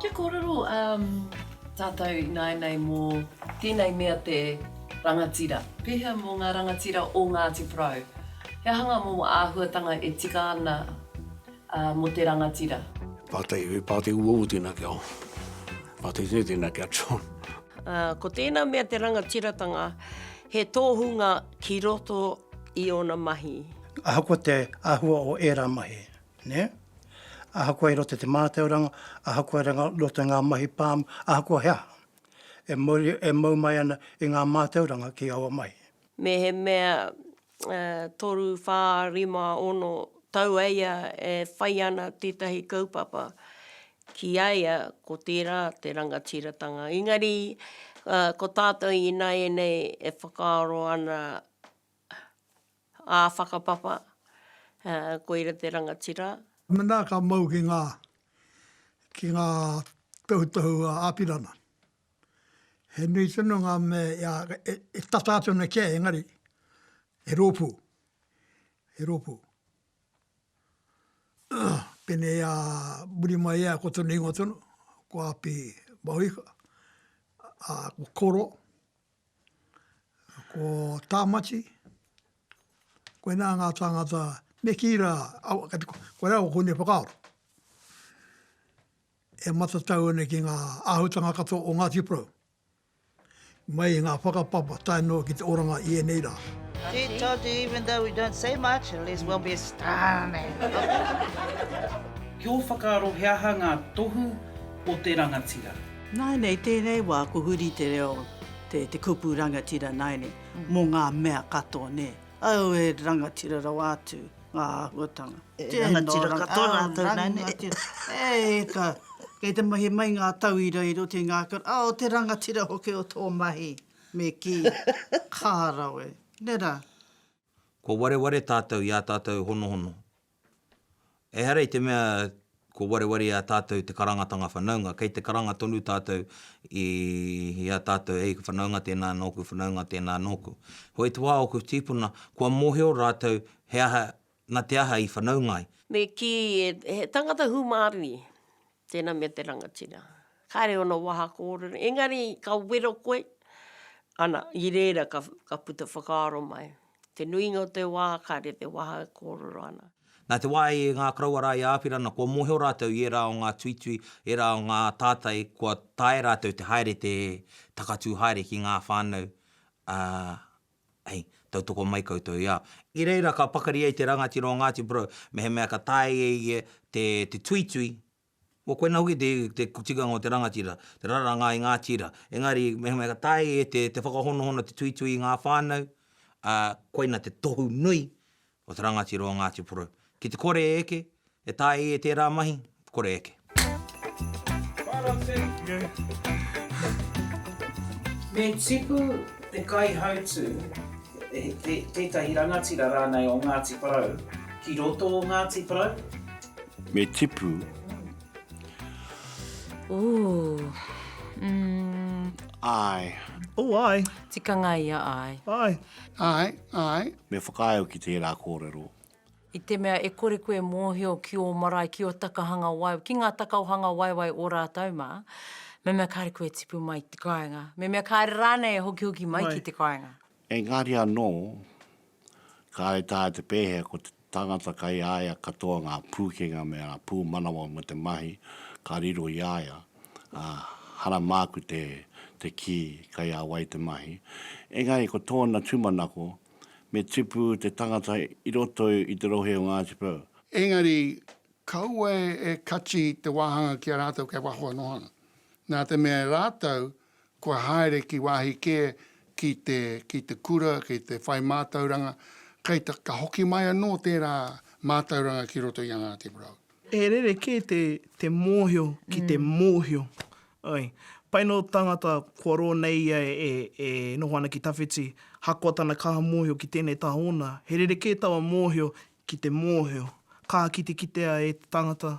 Kia kōrero tātou ināianei mō tēnei mea te rangatira. Pēhea mō ngā rangatira o Ngāti Porou? He aha ngā momo āhuatanga e tika ana mō te rangatira? Pātai, He pātai uaua tēnā ki a Owen. Pātai tēnei tēnā ki a John. Ko tēnā mea te rangatiratanga, he tōhunga ki roto i ōna mahi. Ahakoa te āhua o ērā mahi, nē? Ahakoa i roto i te mātauranga, ahakoa i roto i ngā mahi pāmu, ahakoa he aha, e mau mai ana i ngā mātauranga ki aua mahi. Mehemea toru, whā, rima, ono tau a ia e whai ana tētahi kaupapa, ki a ia ko tērā te rangatiratanga. Engari, ko tātou ināianei e whakaaro ana ā whakapapa, koira te rangatira. Mēnā ka mau ki ngā, ki ngā tohutohu āpirana. He nui tonu ngā mea e tata atu ana kia, engari, he rōpū, he rōpū. Pēnei a muri mai ia ko tonu ingoa tonu, ko Api Mahuika, ko Koro, ko Tāmati, koinā ngā tāngata me kī rā, kati koirā ko Hune Whakaaro. e matatau ana ki ngā āhutanga katoa o Ngāti Porou, mai i ngā whakapapa tae noa ki te oranga i ēnei rā. Tē todu even though we don't say much, at least we'll be astounding. Ki ō whakaaro he aha ngā tohu o te rangatira? Nāinei tēnei wā ko huri te reo te te kupu rangatira nāinei mō ngā mea katoa nē? Au e rangatira rawa atu. ngā āhuatanga. E rangatira katoa rātou nā nei. E ka, kei te mahi mai ngā tauira i roto i ngā kura, a o te rangatira hoki o tō mahi, me kī, kā rawe, nē rā. Kua wareware tātou i ā tātou honohono. Ehara i te mea Ko wareware i a tātou te karangatanga whanaunga. Kei te karanga tonu tātou i a tātou, hei whanaunga tēnā nōku, whanaunga tēnā nōku. Hoi te wā ōku tīpuna, kua mōhio rātou he aha, nā te aha i whanaunga ai. Me kī, he tangata hūmārui, tēnā me te rangatira. Kāre ōna waha kōrero, engari ka wero koe, ana, i reira ka puta whakaaro mai. Te nuinga o te wā kāre te waha e kōrero ana. Nā te wā i ngā karawara i Āwhirana kua mōhio rātou i ērā o ngā tuitui, ērā o ngā tātai kua taea rātou te haere te takatū haere ki ngā whānau, ā, hei, tautoko mai koutou i a. I reira ka pakari ai te rangatira o Ngāti Porou mehemea ka taea e ia te tuitui Ko koinā hoki te, te tikanga o te rangatira, te raranga i ngā tira. Engari, mehemea ka tae e te, te whakahonohono, te tuitui i ngā whānau, ā, koina te tohu nui o te rangatira o Ngāti Porou. Ki te kore e eke, e tae e tērā mahi, kore e eke. Me tipu te kaihautū, tētahi rangatira rānei o Ngāti Porou, ki roto o Ngāti Porou, Me tipu. Ooh. Mm. Ai. Oh, ai. Tikanga ia ai. Ai. Ai, ai. Me whakaae au ki tērā kōrero. I te mea e kore koe e mōhio ki ō marae, ki ō takahanga waewae, ki ngā takaohanga waewae o rātou mā, me mea kāre koe e tipu mai ki te kāinga, me mea kāre rānei e hokihoki mai ki te kāinga. Engari anō, kāre taea te pēhea ko te tangata kei a ia katoa ngā pūkenga me ngā pūmanawa mō te mahi ka riro i a ia, ā, hara māku te, te kī, kei a wai te mahi. Engari ko tōna tūmanako, me tipu te tangata i roto i te rohe o Ngāti Porou. Engari, kaua e kati te wāhanga ki a rātou kei waho anō ana, nā te mea e rātou kua haere ki wāhi kē, ki te, ki te kura, ki te whai mātauranga, kei te, ka hoki mai anō tērā mātauranga ki roto i a Ngāti Porou. He rerekē te, te mōhio ki te mōhio. Oi. Pai nō tāngata kua rō nei ia e, e noho ana ki tawhiti, hakoa tana kaha mōhio ki tēnei taha ōna, he rerekē taua mōhio ki te mōhio. Kaha kitikitea e te tangata,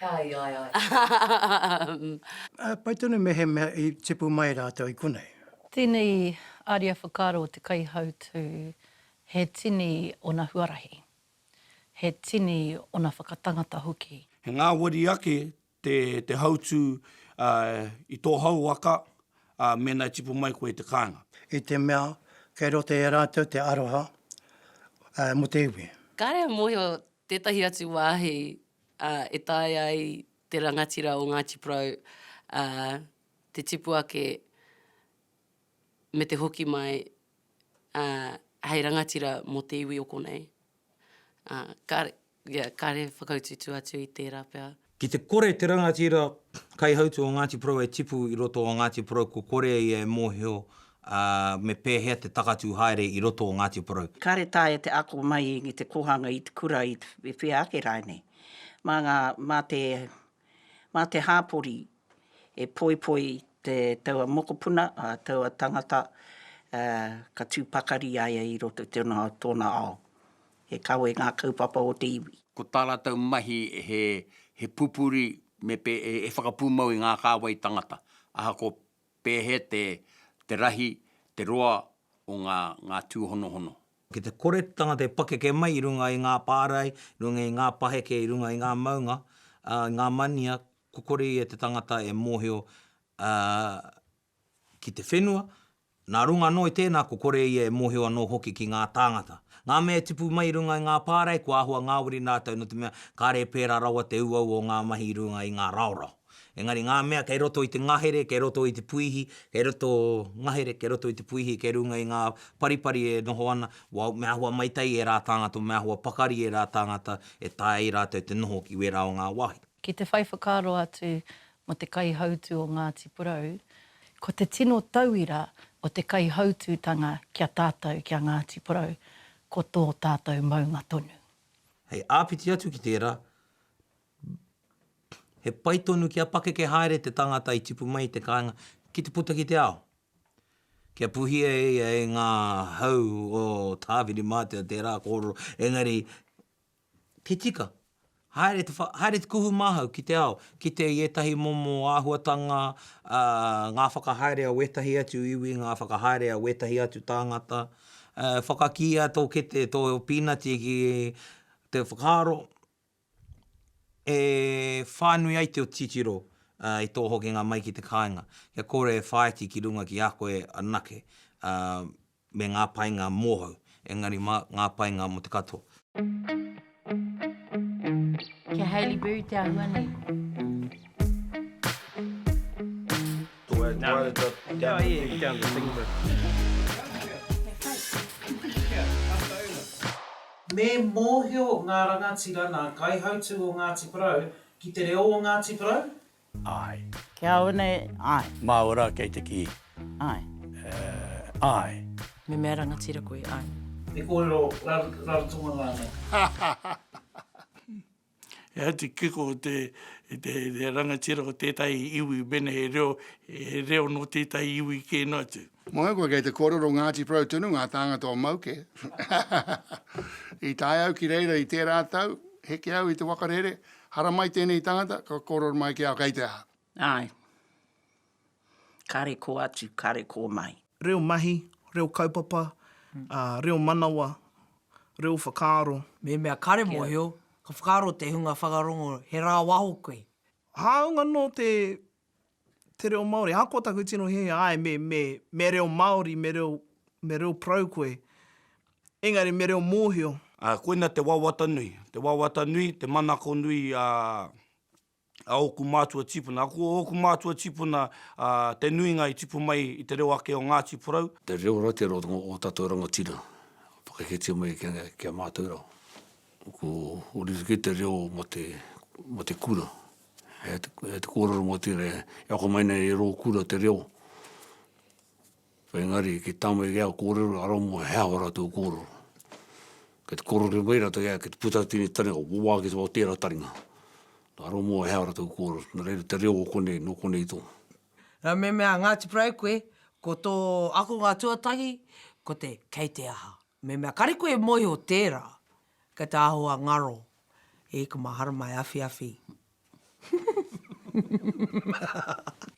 Ai, ai, ai. Pai tonu mehemea i tipu mai rātou i konei. Tēnei aria whakaaro o te kaihautū he tini ōna huarahi, he tini ōna whakatangata hoki. He ngāwari ake te hautū i tō hau waka mēnā e tipu mai koe i te kāinga. I te mea kei roto i a rātou te aroha mō te iwi. Kāre e mōhio Tētahi atu wāhi e taea ai te rangatira o Ngāti Porou te tipu ake me te hoki mai hei rangatira mō te iwi o konei. Kāre, kāre whakautuutu atu i tērā pea. Ki te kore te rangatira kaihautū o Ngāti Porou e tipu i roto o Ngāti Porou kua kore ia e mōhio me pēhea te takatū haere i roto o Ngāti Porou. Kāre taea te ako mai i te kōhanga i te kura i whea ake rae nei. Mā ngā, mā te, mā te hāpori e poipoi te taua mokopuna, ā, taua tangata, ā, ka tū pakari a ia i roto i tōna, tōna ao. He kawe ngā kaupapa o te iwi. Ko tā rātou mahi he pupuri me he whakapūmau i ngā kāwai tangata, ahakoa pēhea te rahi, te roa o ngā tūhonohono. Ki te kore te tangata e pakeke mai i runga i ngā pārae, i runga i ngā paheke, i runga i ngā maunga, i ngā mania, ko kore ia te tangata e mōhio ki te whenua, nā runga anō i tēnā ko kore ia e mōhio anō hoki ki ngā tāngata. Ngā mea e tipu mai i runga i ngā pārae kua āhua ngāwari rātou nō te mea kāre e pērā rawa te uaua o ngā mahi i runga i ngā raorao. Engari ngā mea kei roto i te ngahere, kei roto i te puihi, kei roto ngahere, kei roto i te puihi, kei runga i ngā paripari e noho ana, well, me āhua maitai ērā tāngata, me āhua pakari ērā tāngata e taea ai rātou te noho ki wērā o ngā wāhi. Ki te whai whakaaro atu, mō te kaihautū o Ngāti Porou, ko te tino tauira o te kaihautūtanga ki a tātou, ki a Ngāti Porou, ko tō tātou maunga tonu. Hei āpiti atu ki tērā, he pai tonu kia pakeke haere te tangata i tipu mai i te kāinga ki te puta ki te ao, kia puhia e ia e ngā hau o Tāwhirimātea tērā kōrero, engari, He tika. Haere te, haere te kuhu māhau ki te ao, kite i ētahi momo āhuatanga, ā, ngā whakahaere a wētahi atu iwi, ngā whakahaere a wētahi atu tāngata, ā, whakakīia tō kete, tō pīnati ki te whakaaro e whānui ai te titiro i tō hokinga mai ki te kāinga, kia kore e whāiti ki runga ki a koe anake, ā, me ngā painga mōhou, engari mā ngā painga mō te katoa. Me mōhio ngā rangatira nā kaihautū o Ngāti Porou ki te reo o Ngāti Porou, Ae. Ki a au nei, ae. Maua ra kei te ki. Ae. Eh, ae. Me mea rangatira koe, ae. He korero Rarotonga ranei? He atu kiko i te, i te rangatira o tetahi iwi mena he reo, he reo no tetahi iwi ke no atu. Moe koe kei te korero Ngati Porou tonu nga tangata o Mauke. I tae au ki reira i tera tau, heke au i te wakarere, Haramai tēnei tangata, ka kōrero mai ki au kei te aha. Āe. Kare kō atu, kare kō mai. Reo mahi, reo kaupapa, reo manawa, reo whakaaro. Me mea kare mōhio, ka whakaaro te hunga whakarongo he rāwaho koe. Hāunga nō te te reo Māori. Ahakoa taku tino hiahia, āe, me, me, me reo Māori, me reo, me reo parau koe, engari me reo mōhio. Ā, koina te wawata nui, te wawata nui, te manako nui a, a ōku mātua tīpuna. A ko ōku mātua tīpuna, ā, te nuinga i tipu mai i te reo ake o Ngāti Porou. Te reo rau, te reo o ō tātou rangatira, whakaketia mai kia, kia mātou rau. Ko ōrite kē te reo mō te, mō te kura. He he te kōrero mō tērā, e ako mai nei e rō kura te reo. Engari ki tāmai ki au kōrero arā mō he aha ora tō kōrero. Kei te kōrero mai rata ki au, kei te puta atu i te taringa, wā ki tō tērā taringa. Arā mō he aha ora tō kōrero, nō reira te reo o konei, nō konei tō. Nā, me mea Ngāti Porou koe, ko tō akonga tuatahi, ko te kei te aha. Mehemea kare koe e moeho tera, kei te aho a ngaro e ika maharama e awhiawhi.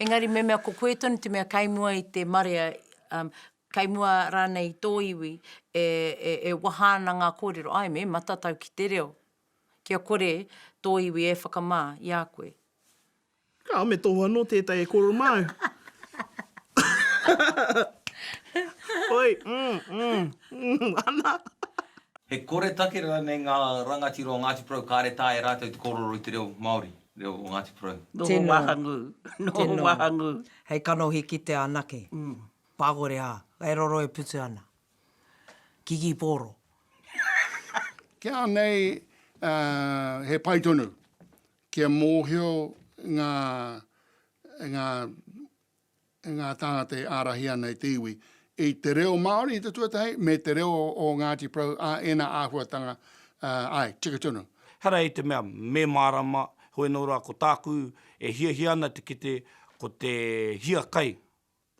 Engari mehemea ko koe tonu te mea kei mua i te marea, um, kei mua ranei i to iwi, e, e, e waha ana nga korero, ae me matatau ki te reo, kia kore to iwi e whakama i a koe. Ka me tohu anō tētai e koro māu. Oi, mm, mm, mm, ana. He koretake rānei ngā rangatira o Ngāti Porou kāre tā e rātou te kōrero i te reo Māori, reo o Ngāti Porou? Noho wahangū, noho wahangū. Hei kanohi kitea anake, pākore ā, e roro e putu ana. Kikipōro. Kia nei, he pai tonu. Kia mōhio ngā, ngā, ngā tāngata e ārahi ana i te iwi, i te reo Māori i te tuatahi, me te reo o Ngāti Porou, ā, ēnā āhuatanga, ā, āe, tika tonu. Hara i te mea me mārama, heoi nō rā ko tāku e hiahia ana te kite ko te hiakai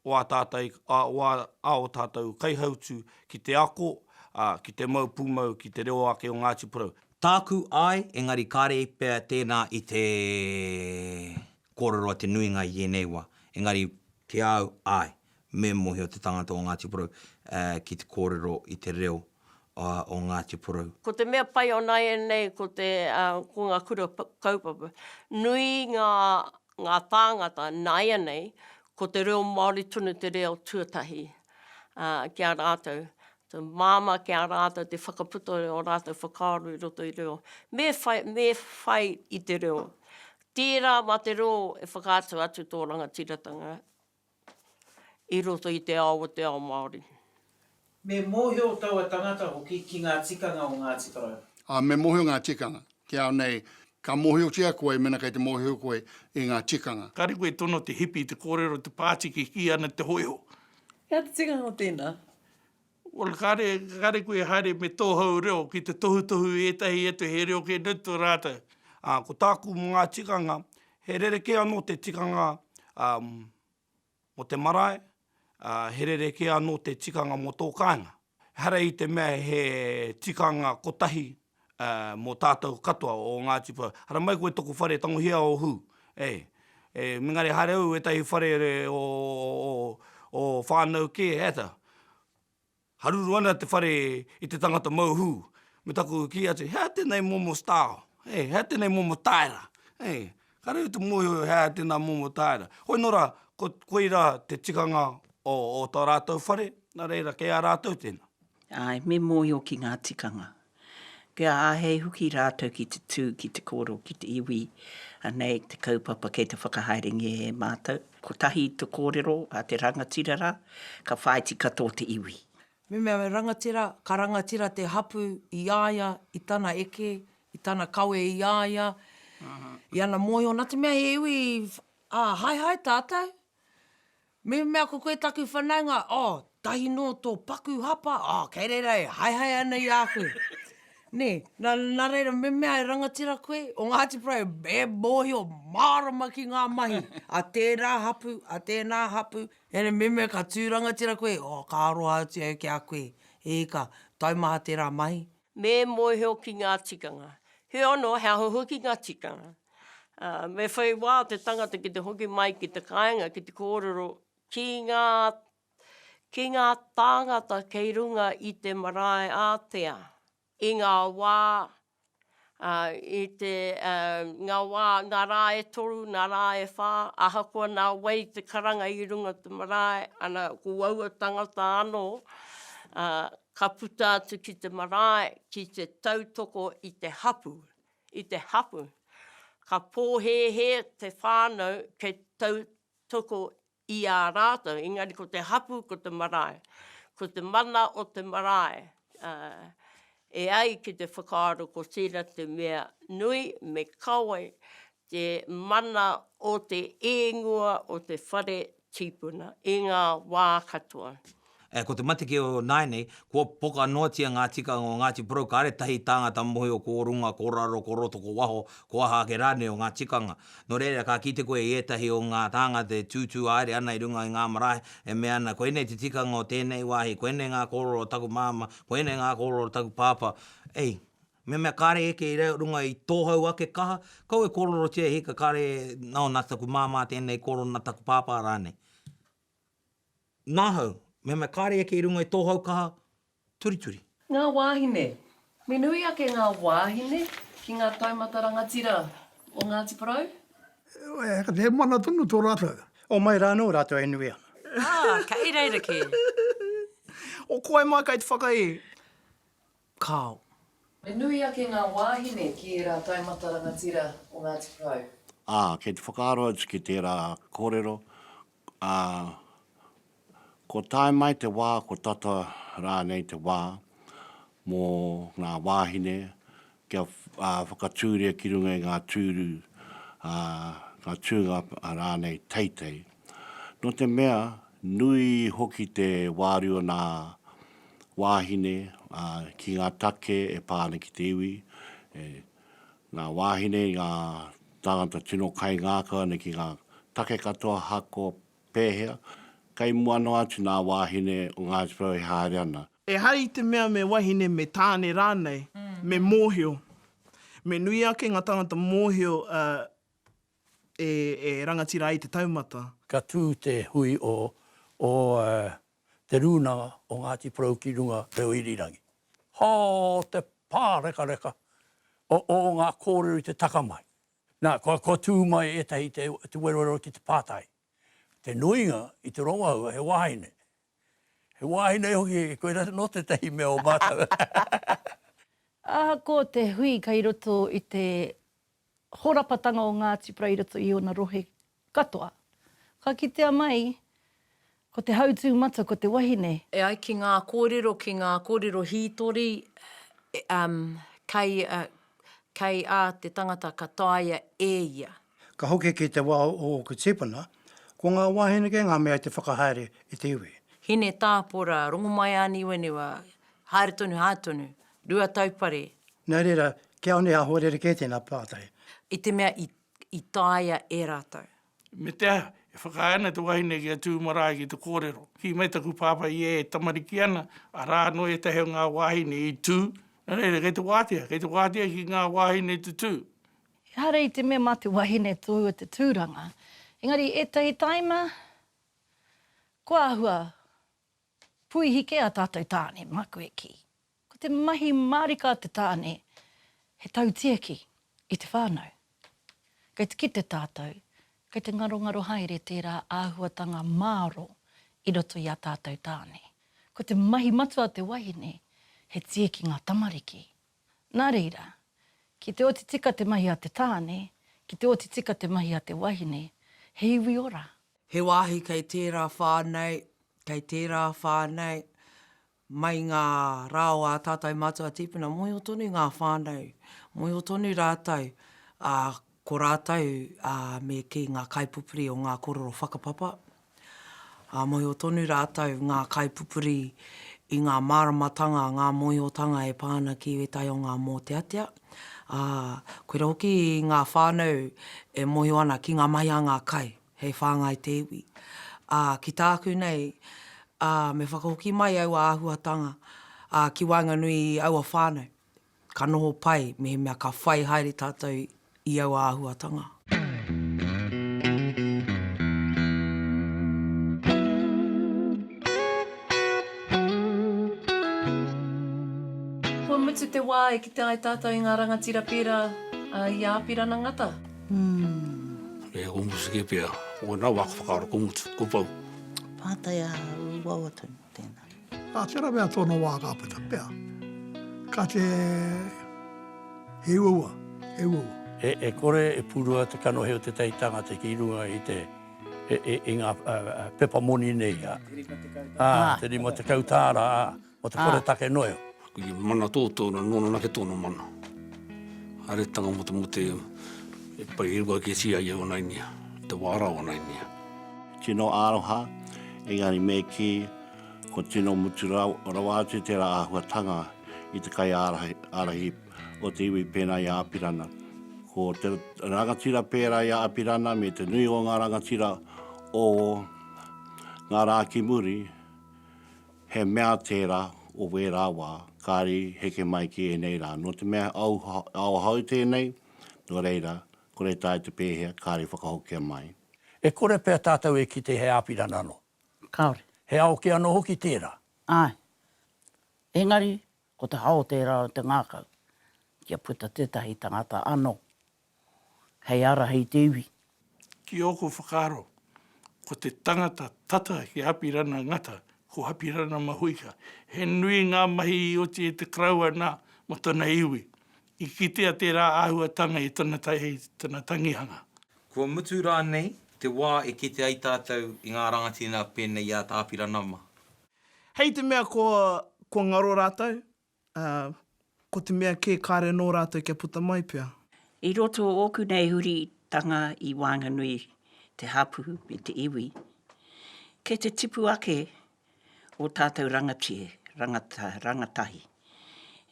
o ā tātou, o ā, ā ō tātou kaihautū ki te ako, ā, ki te mau pūmau ki te reo ake o Ngāti Porou. Tāku, āe, engari kāre pea tēnā i te kōrero a te nuinga i ēnei wā. Engari, ki a au, āe, me mōhio te tangata o Ngāti Porou, ā, ki te kōrero i te reo, ā, o Ngāti Porou. Ko te mea pai o nāianei ko te, ā, ko ngā kura kaupapa, nui ngā ngā tāngata nāianei ko te reo Māori tonu te reo tuatahi ki a rātou, te māmā ki a rātou te whakaputa i ō rātou whakaaro i roto i reo, me whai, me whai i te reo. Tērā mā te reo e whakaatu atu tō rangatiratanga i roto i te ao o te ao Māori. Me mōhio taua tangata hoki ki ngā tikanga o Ngāti Porou. Ā, me mōhio ngā tikanga. Te ao nei, ka mōhiotia koe mena kei te mōhio koe i ngā tikanga. Kāre koe e tono te hipi, te kōrero, te pāti, kikī ana te hōiho. He aha te tikanga o tēnā? Well, kāre, kāre koe e haere me tō hou reo ki te tohutohu i ētahi atu he reo kē noa tō rātou. Ā, ko tāku mō ngā tikanga, he rerekē anō te tikanga, ā, mō te marae, ā, he rerekē anō te tikanga mō tō kāinga. Ehara i te mea he tikanga kotahi mō tātou katoa o Ngāti Porou. Haramai koe tōku whare tangohia o Hū, eh, eh, mingare haere au ētahi whare o, o, o whānau kē, ēta. Haruru ana te whare i te tangata mau hū, me taku kī atu, he aha tēnei momo style, eh, he aha tēnei momo taera, eh. Ka rere te mōhio he aha tēnā momo tāera. Hoi nō rā, ko, koirā te tikanga o, o tō rātou whare, nā reira, kei a rātou tēnā. Āe, me mōhio ki ngā tikanga. Kia āhei hoki rātou ki te tū, ki te kōrero, ki te iwi, anei te kaupapa kei te whakahaerengia e mātou. Kotahi te kōrero a te rangatira rā, ka whāiti katoa te iwi. Me mea he rangatira, ka rangatira te hapū i a ia, i tana eke, i tana kawe i a ia, i ana mōhio, nā te mea he iwi, ā, haehae tātou. Me mea ko koe taku whanaunga, oh, tahi nō tō paku hapa, oh, kei reira e haehae ana i a koe. Nē, nā, nā reira, me mea e rangatira koe, o Ngāti Porou e, e mōhio mārama ki ngā mahi a tērā hapū, a tēnā hapū, Ere meme ka tū rangatira koe, oh ka aroha atu au ki a koe, e ika, taumaha tērā mahi. Me mōhio ki ngā tikanga. Heoi anō, he aha hoki ngā tikanga? Me whai wā te tangata ki te hoki mai ki te kāinga ki te kōrero ki ngā, ki ngā tāngata kei runga i te marae ātea. i ngā wā, i te, ngā wā, ngā rā e toru, ngā rā e whā, ahakoa nā wai te karanga i runga i te marae, ana, ko aua tangata anō, ka puta atu ki te marae, ki te tautoko i te hapū, i te hapū. Ka pōhēhē te whānau kei tautoko i a rātou, engari ko te hapū ko te marae, ko te mana o te marae, e ai ki te whakaaro ko tērā te mea nui, me kawe te mana o te ēngua o te whare tīpuna i ngā wā katoa. Ko te mateke o nāianei, kua poka noatia ngā tikanga o Ngāti Porou, kāre tahi tāngata mōhio ko runga, ko raro, ko roto, ko waho, ko aha ake rānei o ngā tikanga. Nō reira, ka kite koe i ētahi o ngā tāngata e tūtū haere ana i runga i ngā marae, e mea ana, koinei te tikanga o tēnei wāhi, koinei ngā kōrero o taku māmā, koinei ngā kōrero o taku pāpā. Ei, mehemea kāre eke i runga i tō hau ake kaha, kau e kōrerotia e hika kāre, nā, nā taku māmā tēnei kōrero, nā taku pāpā rānei. Ngahau, Mehemea kāre eke i runga i tō hau kaha turituri. Ngā wāhine, Me nui ake ngā wāhine ki ngā taumata rangatira o Ngāti Porou? Heoi, kāti he moana tonu tō rātou. Homai rā anō rātou e nui ana. Ā, kei reira kē. Ō, ko wai mā kei te whakaihi? Kāo. He nui ake ngā wāhine ki ērā taumata rangatira o Ngāti Porou. Ā, kei te whakaaro atu ki tērā kōrero, ā, kua tae mai te wā, kua tata rānei te wā mō ngā wāhine kia whakatūria ki runga i ngā tūru, ā, ngā tūnga rānei teitei. Nō te mea, nui hoki te wāriu o nā wāhine ki ngā take e pā ana ki te iwi, nā wāhine i ngā tāngata tino kaingākau ana ki ngā take katoa hako pēhea, kei mua noa atu nā wāhine o Ngāti Porou e haere ana. Ehara i te mea me wahine, me tāne rānei, me mōhio. Me nui ake ngā tāngata mōhio e rangatira ai te taumata. Ka tū te hui o Te Rūnanga o Ngāti Porou ki runga reo irirangi. Hā te pārekareka o ngā kōrero i te taka mai. Nā, kua tū mai ētahi te werowero ki te pātai, te nuinga i te rongoaua he wāhine. He wāhine hoki, koirā anō tētahi mea o mātou. Ahakoa te hui kei roto i te horapatanga o ngā tipra i roto i ōna rohe katoa. Ka kitea mai, ko te hautū matua ko te wahine. E ai ki ngā kōrero, ki ngā kōrero hītori, kei, kei a te tangata ka taea e ia. Ka hoki ki te wā o ōku tīpuna, ko ngā wāhine kē ngā mea i te whakahaere i te iwi. Hine tāpora, rongomaiāniwaniwa, haere tonu, haere tonu, Rua taupare. Nō reira, kia one aho rerekē tēnā pātai. I te mea i, i taea e rātou. Me te aha, e whakaae ana te wahine ki a Tū marae ki te kōrero, Kī mai taku pāpā i ē tamariki ana, arā anō ētahi o ngā wāhine i tū. Nō reira, kei te wātea, kei te wātea ki ngā wāhine te tū. Ehara i te mea mā te wahine tōu o te tūranga, engari ētahi tāima kua āhua Puihi kē ā tātou tāne, māku e kī. Ko te mahi mārika a te tāne, he tautiaki i te whānau. Kei te kite tātou, kei te ngarongaro haere tērā āhuatanga māro i roto i ā tātou tāne. Ko te mahi matua a te wahine, he tieki ngā tamariki, Nā reira, ki te oti tika te mahi a te tāne, ki te oti tika te mahi a te wahine, he iwi ora. He wāhi kei tērā whā nei, kei tērā whā nei, mai ngā rā o ā tātou mātua tīpuna, mōhio tonu ngā whānau, mōhio tonu rātou, ā, Ko rātou, ā, me kī ngā kaipupuri o ngā kororo whakapapa, ā, mōhio tonu rātou ngā kaipupuri i ngā māramatanga, ngā mōhiotanga e pā ana ki ētahi o ngā mōteatea, ā, koirā hoki ngā whānau e mōhio ana ki ngā mahi a ngā kai hei whāngai te iwi. Ā, ki tāku nei, ā, me whakahoki mai aua āhuatanga, ā, ki waenganui i aua whānau, Ka noho pai mehemea ka whai haere tātou i aua āhuatanga. Kua mutu te wā e kite ai tātou i ngā rangatira pērā i a Apirana Ngata. He kōmutu kē pea. Ko wena wā ka whakaaro kōmutu, kōpou. Pātai ā-wawa tonu. Tēnā. Ā, tērā mea tōna wā ka puta pea. Ka te, he uaua, he uaua. E kore e purua te kanohi o te tai tangata ki runga i te, i ngā pepa moni nei, ā, te rima tekau tāra, ā, mō te koretake noeo. I mana toto no nona nake tono mana haeretanga mo te mute e pai i rua kesi ai e ona inia i te wa ra o ona inia. Tino aroha, engari me ki kua tino mutu rawa atu tera ahuatanga i te kai arahi o te iwi pena i a Apirana. Ko te rangatira pera i a Apirana me te nui o nga rangatira o nga ra ki muri, He mea tērā o wērā wā, kāre i heke mai ki ēnei rā. Nō te mea he aohou tēnei, nō reira, kore tae te pēhea, kāre i whakahokia mai. E kore pea tātou e kite he āpirana anō. Kāore. He ao kē anō hoki tērā. Āe. Engari, Ko te hao tērā o te ngākau kia puta tētahi tangata anō hei ara hei te iwi. Ki ōku whakaaro, ko te tangata tata ki a Apirana Ngata, ko Apirana Mahuika. He nui ngā mahi i oti i te Karaua nā, mō tana iwi. I kitea tērā āhuatanga i tana tana tangihanga. Kua mutu rānei te wā e kite ai tātou i ngā rangatira pēnei i a Apirana mā? Hei te mea kua ngaro rātou, ā, ko te mea kē kāre nō rātou kia puta mai pea. I roto o ōku nei huritanga i waenganui te hapū me te iwi, kei te tipu ake ō tātou rangatira, rangatahi.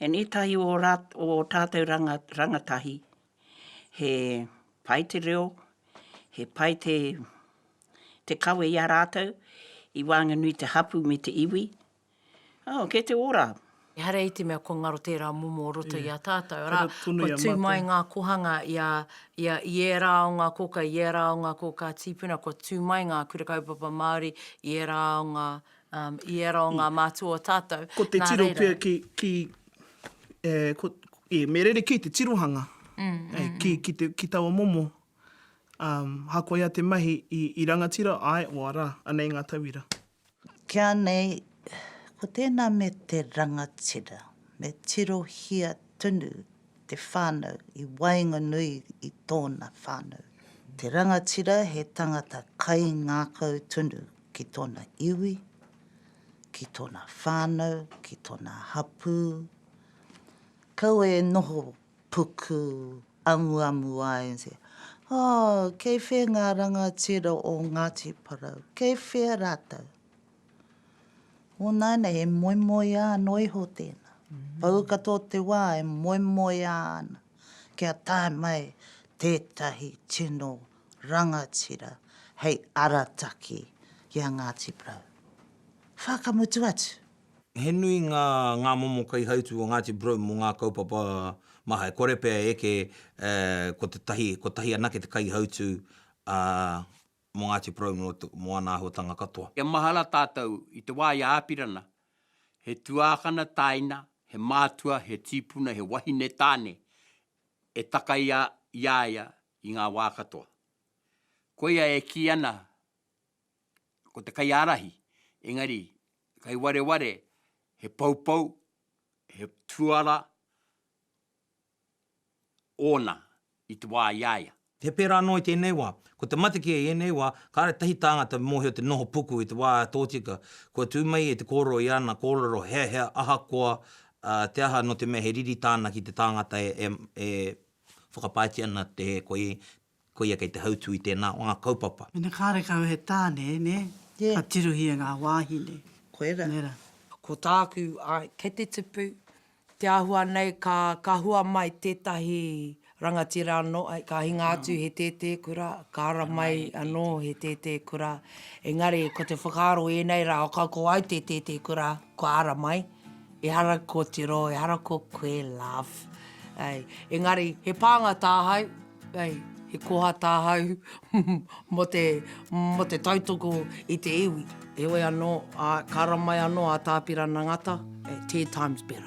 And ētahi o ō tātou rangatahi He pai te reo, he pai te te kawe i a rātou, i waenganui i te hapū me te iwi. Oh, kei te ora! Ehara i te mea kua ngaro tērā momo o roto i a tātou, arā, kua tū mai ngā kohanga i a, i a, i ērā o ngā kōkā, i ērā o ngā kōkā tīpuna, kua tū mai ngā Kura Kaupapa Māori i ērā o ngā, I ērā o ngā mātua o tātou. Ko te tiro pea ki, ki, e, ko, e, me rerekē te tirohanga. Mm, mm, e, mm. Ki, ki, te, ki taua momo, um, hakoia te mahi i, i rangatira, ai, o ara, anei ngā tauira. Kia nei, ko tēnā me te rangatira, me tirohia tunu te whānau i waenganui i tōna whānau. Te rangatira he tangata kaingākau tonu ki tōna iwi, ki tōna whānau, ki tōna hapū. Kaua e noho puku amuamu ai and say, Oh, kei whea ngā rangatira o Ngāti Porou? Kei whea rātou? Nō nāianei e moemoeā anō iho tēnā. Pau katoa o te wā e moemoeā ana kia tae mai tētahi tino rangatira hei arataki ki a Ngāti Porou. Whakamutu atu! He nui ngā ngā momo kaihautū o Ngāti Porou mō ngā kaupapa maha. E kore pea e eke ko tētahi, kotahi anake te kaihautū, ā, mō Ngāti Porou nō te, mō ana āhuatanga katoa. Kia mahara tātou i te wā i a Āpirana, he tuākana tāina, he mātua, he tīpuna, he wahine tāne e takaia i a ia i ngā wā katoa. Koia e kī ana ko te kaiārahi, engari kei wareware he poupou, he tuara, ōna i te wā i a ia. He pērā anō i tēnei wā. Ko te mate kē i ēnei wā, kāre tahi tāngata mōhio te noho puku i te wā tōtika, kua tū mai e te kōrero i ana kōrero he aha ahakoa te aha nō te mea he riri tāna ki te tāngata e whakapaetia ana te koi Koia kei te hautū i tēnā o ngā kaupapa. Mena kārekau he tāne, nē? Nē. Ka tirohia ngā wāhine. Koirā. Nē rā. Ko tāku, āe, kei te tipu, te āhua nei ka, ka hua mai tētahi rangatira anō, āe, ka hinga atu he tētē kura, ka ara mai anō he tētē kura, engari ko te whakaaro ēnei rā, ka ko au te tētē kura, kua ara mai, ehara kōtiro, ehara ko koe, love. Engari, he pānga tāhau. Hei, he koha tāhau mō te, mō te tautoko i te iwi. Heoi anō, ā, ka ramai anō a Tāpirana Ngata, Ten times better.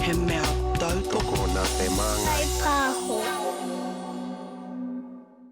He mea tautoko nā te māngai. Kai Pāho.